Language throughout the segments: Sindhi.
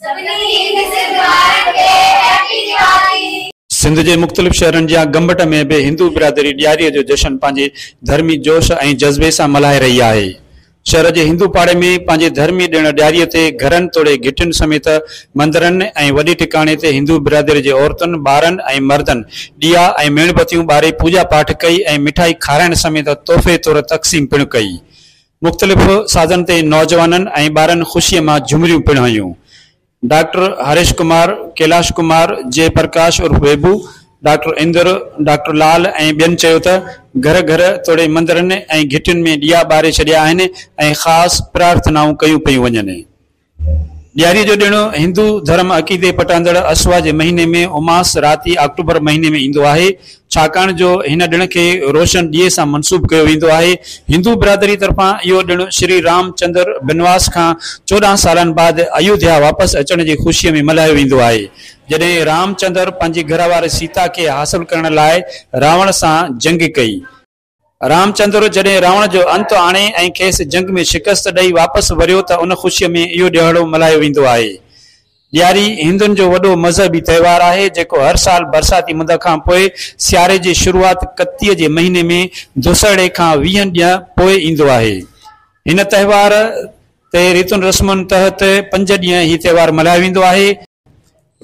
سڀني هند سنڌ وارن کي هيپي ديوالي. سنڌ جي مختلف شهرن جيان گمبٽ ۾ به هندو برادري ڏياري جو جشن پنهنجي ڌرمي جوش ۽ جذبي سان ملهائي رهي آهي. شهر جي هندو پاڙي ۾ پنهنجي ڌرمي ڏڻ ڏياري تي گهرن توڙي گهٽين سميت مندرن ۽ وڏي ٽڪاڻي تي هندو برادري جي عورتن، ٻارن ۽ مردن ڏيئا ۽ ميڻ بتيون ٻاري پوڄا پاٺ ڪئي ۽ مٺائي کارائڻ سميت تحفي طور تقسيم پڻ ڪئي. مختلف سازن تي نوجوانن ۽ ٻارن خوشيء مان جهومريون پڻ هنيون. ڊاڪٽر هريش ڪمار، ڪيلاش ڪمار، جئه پرڪاش عرف ويڀو، ڊاڪٽر اندر، ڊاڪٽر لال ۽ ٻين چيو ته گهر گهر توڙي مندرن ۽ گهٽين ۾ ڏيئا ٻاري ڇڏيا آهن ۽ خاص پرارٿنائون ڪيون پيون وڃن. ڏياري جو ڏڻ هندو ڌرم عقيدي پٽاندڙ اسوا جي مهيني ۾ اماس راتي آڪٽوبر مهيني ۾ ايندو آهي ڇاڪاڻ جو هن ڏڻ کي روشن ڏيئي سان منسوب ڪيو ويندو آهي هندو برادري طرفان اهو ڏڻ شري رام چندر بنواس کان چوڏهن سالن بعد ايوڌيا واپس اچڻ جي خوشي ۾ ملهايو ويندو آهي جڏهن رام چندر پنهنجي گهرواري سيتا کي حاصل ڪرڻ لاء راوڻ سان جنگ ڪئي. رامچندر جڏهن راوڻ جو انت آڻي ۽ کيس جنگ ۾ شڪست ڏئي واپس وريو ته ان خوشيء ۾ اهو ڏهاڙو ملهايو ويندو آهي. ڏياري هندن جو وڏو مذهبي تهوار آهي، جيڪو هر سال برساتي مند کان پوء سياري جي شروعات ڪتيء جي مهيني ۾ دسهڙي کان ويهن ڏينهن پوء ايندو آهي. هن تهوار تي ريتن رسمن تحت پنج ڏينهن هي تهوار ملهايو ويندو آهي.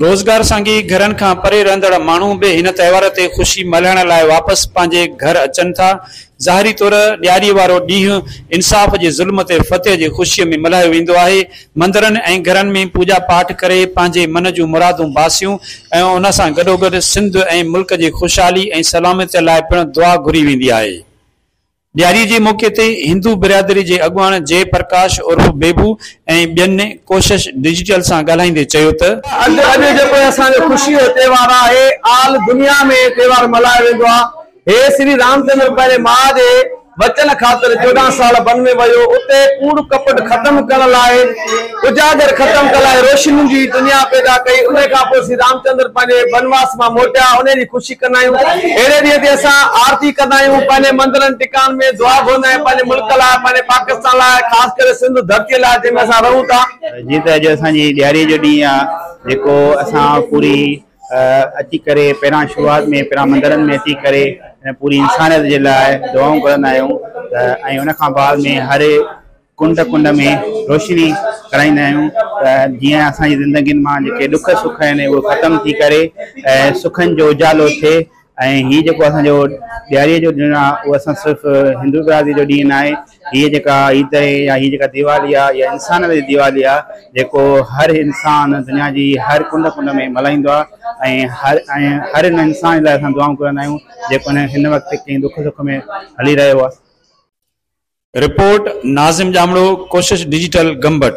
روزگار سانگي گهرن کان پري رهندڙ ماڻهو به هن تهوار تي خوشي ملهائڻ لاء واپس پنهنجي گهر اچن ٿا. ظاهري طور ڏياري وارو ڏينهن انصاف جي ظلم تي فتح جي خوشي ۾ ملهايو ويندو آهي. مندرن ۽ گهرن ۾ پوڄا پاٺ ڪري پنهنجي من جون مرادون باسيون ۽ ان سان گڏوگڏ سنڌ ۽ ملڪ جي خوشحالي ۽ سلامتي لاء پڻ دعا گهري ويندي آهي. ڏياري جي موقعي تي هندو برادري جي اڳواڻ جئي پرڪاش عرف بيبو ۽ ٻين ڪوشش ڊجيٽل سان ڳالهائيندي چيو ته. اڄ جيڪو اسان جو خوشي جو تهوار آهي، آل دنيا ۾ هي تهوار ملهايو ويندو آهي. هي شري رام چندر پنهنجي ماء جي وچن خاطر چوڏهن سال ون ۾ ويو، اتي ڪوڙ ڪپٽ ختم ڪرڻ لاء، اجاگر ختم ڪلائي روشنين جي دنيا پيدا ڪئي انهي کان پوء سري رامچندر پنهنجي بنواس مان موٽيا انهي جي خوشي ڪندا آهيون اهڙي ڏينهن تي اسان آرتي ڪندا آهيون پنهنجي مندرن ٽڪاڻن ۾ دعا گهرندا آهيون پنهنجي ملڪ لاء پنهنجي پاڪستان لاء خاص ڪري سنڌ ڌرتي لاء جنهن ۾ اسان رهون ٿا. جيئن ته اڄ اسان جي ڏياري جو ڏينهن آهي جيڪو اسان پوري اچي ڪري پهريان شروعات ۾ پهريان مندرن ۾ اچي ڪري پوري انسانيت جي لاء دعائون گهرندا آهيون ته ۽ ان کان بعد ۾ هر ڪنڊ ڪنڊ ۾ روشني ڪرائيندا آهيون ته جيئن اسان جي زندگين مان جيڪي ڏک سک آهن اهي ختم ٿي ڪري ۽ سکن جو اجالو ٿئي ۽ هي جيڪو اسان جو ڏياري جو ڏينهن آهي اهو اسان صرف هندو برادري جو ڏينهن ناهي هي جيڪا عيد آهي يا هي جيڪا ديوالي آهي اها انسانن جي ديوالي آهي جيڪو هر انسان دنيا جي هر ڪنڊ ڪنڊ ۾ ملهائيندو آهي ۽ هر ۽ هر ان انسان لاء اسان دعائون ڪرندا آهيون جيڪو هن وقت ڪنهن ڏک سک ۾ هلي رهيو آهي رپورٽ، ناظم ڄامڙو، ڪوشش ڊجيٽل، گمبٽ.